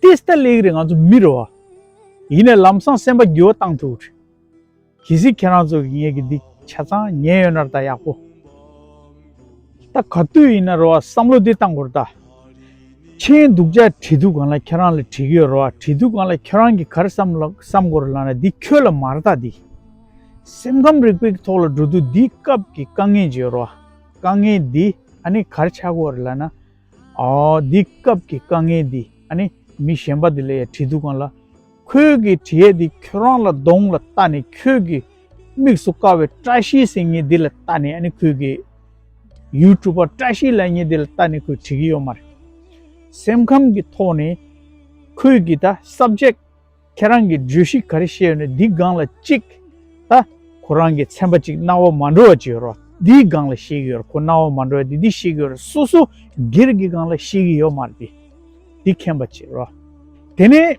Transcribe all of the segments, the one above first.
ཏིས་ཏཱ་ལེའི་རིགས་ང་ཚོ་མི་རོ། ཡིན་ནས་ལམ་སང་སེམས་པ་འགྱུ་བ་བཏང་ཐུག་རེད། གལ་སྲིད་ཁྱེད་རང་ཚོ་གིས་ངེད་ཀྱི་འདི་ཆ་ཚང་ཉན་ཡོད་ནར་ད་ཡག་པོ། ད་ག་དུས་ཡིན་ན་རོ་བསམ་བློ་དེ་བཏང་གོར་ད། མཆན་འདུག་བཅའ་བྲིས་འདུག་གང་ལ་ཁྱེད་རང་ལ་བྲིས་ཀྱི་ཡོད་རོ་བ་བྲིས་འདུག་གང་ལ་ཁྱེད་རང་གིས་གར་བསམ་ལ་བསམ་གོར་ལ་ན་འདི་ཁྱོད་ལ་མར་ད་འདི། སེམས་ཁམས་རིག་པའི་ཐོག་ལ་འགྲོ་དུས་འདི་སྐབས་ཀྱི་དཀའ་ངལ་བརྗོད་རོ་བ། དཀའ་ངལ་འདི་ཨ་ནི་གར་ཆག་གོར་ལ་ན། འདི་སྐབས་ཀྱི་དཀའ་ངལ་འདི་ཨ་ནི་མི་གཞན་པ་དེ་ལ་ཡང་བྲིས་འདུག་གང་ལ། ཁོས་ཀྱི་བྲིས་ཡས་འདི་ཁྱོད་རང་ལ་གདོང་ལ་བལྟ་ནས་ཁྱོད་ཀྱི་དམིགས་སུ་བཀར་བའི་བཀྲ་ཤིས་སེང་ངེ་འདི་ལ་བལྟ་ནས་ཨ་ནི་ཁོས་ཀྱི། YouTuber བཀྲ་ཤིས་ལ་ཉེ་འདི་ལ་བལྟ་ནས་ཁོས་བྲིས་ཀྱི་ཡོད་མ་རེད། སེམས་ཁམས་ཀྱི་ཐོག་ནས། ཁོས་ཀྱི་ད subject། ཁྱེད་རང་གིས་བརྗོད་གཞི་ག་རེ་བཤད་ཡོད་ན་འདིའི་སྒང་ལ་གཅིག་ད་ཁོ་རང་གིས་ཚན་པ་གཅིག་རྣ་བ་མ་འགྲོ་བ་གཅིག་ཡོད་རོགས་འདིའི་སྒང་ལ་བཤད་གི་ཡོད་ཁོ་རྣ་བ་མ་འགྲོ་བ་དེ་འདི་བཤད་གི་ཡོད་རོགས་སོ་སོ་སྒེར་གི་སྒང་ལ་བཤད་གི་ཡོད་མ་རེད་དེ་འདི་མཁྱེན་པ་གཅིག་རོགས་དེ་ནས།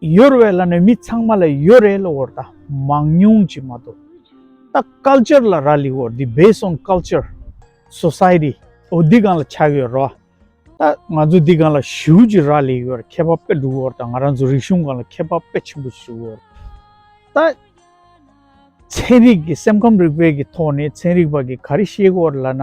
ཡོར་བའི་ལ་ནས་མི་ཚང་མ་ལ་ཡོ་རེ་ལོ་བོར་ད་མང་ཉུང་ཅི་མ་དོ་ད culture ལ་ར་ལི་བོར་འདི based on culture society འོ་འདི་གང་ལ་ཆགས་ཡོ་རོ་ད་ང་ཚོ་འདི་གང་ལ་ཞུ་ཅི་ར་ལི་ཡོ་ར་ཁེ་པ་པེ་འདུག་བོར་ད་ང་རང་ཚོ་རིག་གཞུང་གང་ལ་ཁེ་པ་པེ་ཆེན་པོ་ཞུ་བོར་ད། ཚན་རིག་གི་སེམས་ཁམས་རིག་པའི་གི་ཐོག་ནས་ཚན་རིག་པ་གི་ག་རི་ཤེས་གོ་ར་ལ་ན།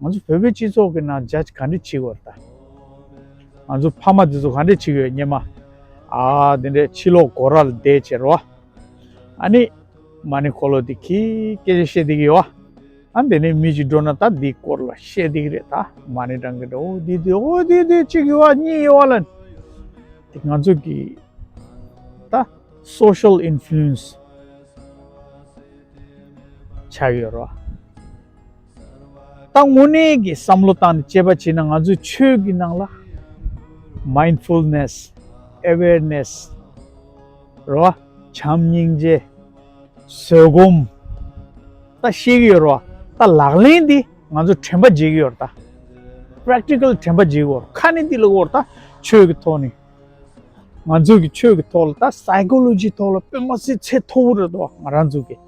ང་ཚོ་བོད་པའི་སྤྱི་ཚོགས་ཀྱི་ནང་ཇ་ག་འདྲི་བྱེད་དགོས་རེད་ད། ང་ཚོ་ཕ་མ་འདི་ཚོ་ག་འདྲི་བྱེད་དགོས་སྙེ་མ། ཨ་འདི་འདྲའི་ཕྱི་ལོག་གོ་ར་ལ་བསྡད་བྱེད་རོ། ཨ་ནི། མ་ནི་ཁོ་ལོ་འདི་གིས་སྐད་ཆ་བཤད་བསྡད་ཀྱི་ཡོད། ཨ་འདི་ནས་མི་ཞིག་འགྲོ་ན་ད་འདིའི་སྐོར་ལ་བཤད་བསྡད་ཀྱི་རེད་ད། མ་ནི་སྦྲང་གི་འདྲ་འོ་འདི་འདི་འོ་འདི་འདི་གཅིག་ཡོད་ཨ་གཉིས་ཡོད་ཨ་ལ། དེ་ང་ཚོ་གི་ད Social Influence བྱ་ཡོད་རོ། ད་དངོས་གནས་ཀྱི་བསམ་བློ་བཏང་ནས་དཔྱད་པ་བྱས་ན་ང་ཚོའི་ཆོས་ཀྱི་ནང་ལ། Mindfulness། Awareness། རེད་བ། བྱམས་སྙིང་རྗེ། བཟོད་སྒོམ། ད་བཤད་ཀྱི་ཡོད་རེད་བ། ད་ལག་ལེན་དེ་ང་ཚོ་དྲན་པ་བྱེད་ཀྱི་ཡོད་རེད་ད། Practical། དྲན་པ་བྱེད་ཀྱི་ཡོད། ཁ་ནས་དེ་ལ་བོར་ད་ཆོས་ཀྱི་ཐོག་ནས། ང་ཚོ་གི་ཆོས་ཀྱི་ཐོག་ལ་ད Psychology ཐོག་ལ་དཔེ་མ་སྲིད་ཚད་མཐོ་བོ་རེད་བ་ང་རང་ཚོ་གི།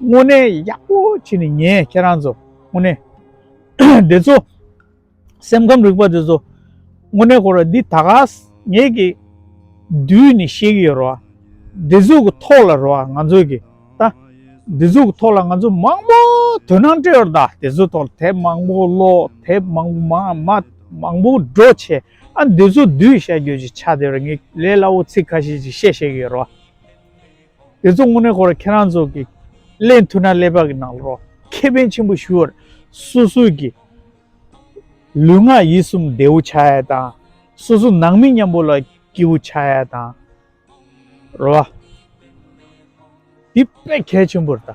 དངོས་གནས་ཡག་པོ་བྱས་ནས་ངས་ཁྱེད་རང་ཚོ་དངོས་གནས་དེ་ཚོ་སེམས་ཁམས་རིག་པ་དེ་ཚོ་དངོས་གནས་ཁོ་ར་འདི་ད་ག་ངེད་ཀྱི་དུས་ནས་ཤེས་ཀྱི་ཡོད་རོ་འདི་ཚོ་གི་ཐོག་ལ་རོ་ང་ཚོ་གི་ད་འདི་ཚོ་གི་ཐོག་ལ་ང་ཚོ་མང་པོ་དོན་སྣང་སྤྲད་ཡོད་ད་དེ་ཚོ་ཐོག་ལ་དེབ་མང་པོ་ཀློག་དེབ་མང་པོ་མང་མ་མང་པོ་འགྲོ་བྱས་ཨ་འདི་ཚོ་བསྡུས་བཤད་རྒྱུ་ཅིག་ཆགས་དེ་ར་ངས་ལས་སླ་བོ་ཚིག་ཁ་ཤས་ཅིག་བཤད་ཤེས་ཀྱི་ཡོད་རོ། དེ་ཚོ་དངོས་གནས་ཁོ་ར་ཁྱེད་རང་ཚོ་གི་ཀླད་མཐུ་ན་ཀླད་པ་གི་ནང་ལོ་རོ་ཁེ་ཕན་ཆེན་པོ་ཞུ་བར་སུ་སུ་གི་ལུས་ངག་ཡིད་གསུམ་བདེ་བོ་ཆགས་ཡས་དང་སུ་སུ་ནང་མི་མཉམ་པོ་ལ་སྐྱིད་བོ་ཆགས་ཡས་དང་རོ་བ་དེ་དཔེ་གལ་ཆེན་པོ་རེ་ད།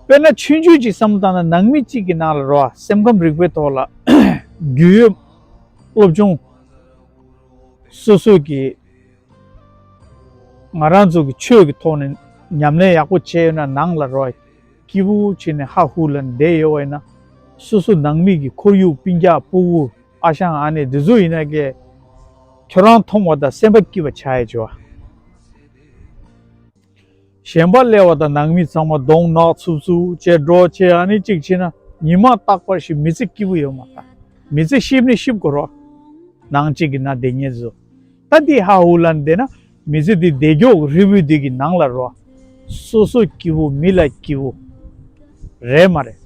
དཔེར་ན་ཆོས་འབྱུང་གཅིག་བསམ་བློ་བཏང་ན་ནང་མི་གཅིག་གི་ནང་ལ་རོ་བ་སེམས་ཁམས་རིག་པའི་ཐོག་ལ་རྒྱུས་ཡོད་སློབ་སྦྱོང་སུ་སུ་གི། ང་རང་ཚོ་གི་ཆོས་ཀྱི་ཐོག་ནས་ཉམས་ལེན་ཡག་པོ་བྱས་ཡོད་ན་ནང་ལ་རོ་ཀི་བུ་བུ་བྱས་ནས་ཧ་ཧུ་ལ་འདེད་ཡོད་བ་ཡིན་ན། སོ་སོ་ནང་མི་གི་ཁོར་ཡུག་པིན་རྒྱག་པུ་བུ་ཨ་ཞང་ཨ་ནེ་འདི་ཚོ་ཡིན་ན་ཀྱེ། ཁྱོད་རང་མཐོང་བ་དང་སེམས་པ་སྐྱིད་པ་བྱ་ཡི་བྱ། ཞེན་པ་སླེ་བ་དང་ནང་མི་ཚང་མ་གདོང་ནག་འཚུབ་འཚུབ་ཅེས་འགྲོ་ཁྱེད་ཨ་ནི་གཅིག་བྱས་ན་ཉི་མ་རྟག་པར་ཞིག་མི་ཚེ་སྐྱིད་པོ་ཡོད་མ་ཐག་མི་ཚེ་གཤིབ་ནི་གཤིབ་དགོས་རོགས་གནང་གཅིག་གི་ན་བདེ་ཉེར་བཟོ་ད་འདི་ཧ་ཧུ་ལ་འདེད་ན་མི་ཚེ་འདི་བདེ་མགྱོགས་རི་བོའི་རྡུལ་གྱི་ནང་ལ་རོ་སོ་སོ་སྐྱིད་པོ་མི་ལ་སྐྱིད་པོ་རེད་མ་རེད་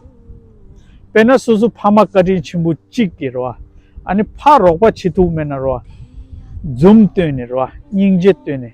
དཔེར་ན་སོ་སོ་ཕ་མ་བཀའ་དྲིན་ཆེན་པོ་གཅིག་གི་རོ་ཨ་ནི་ཕ་རོགས་པ་ཆེ་ཐུག་མེད་ན་རོ་འཛུམ་བཏོན་ནས་རོ་སྙིང་རྗེ་བཏོན་ནས།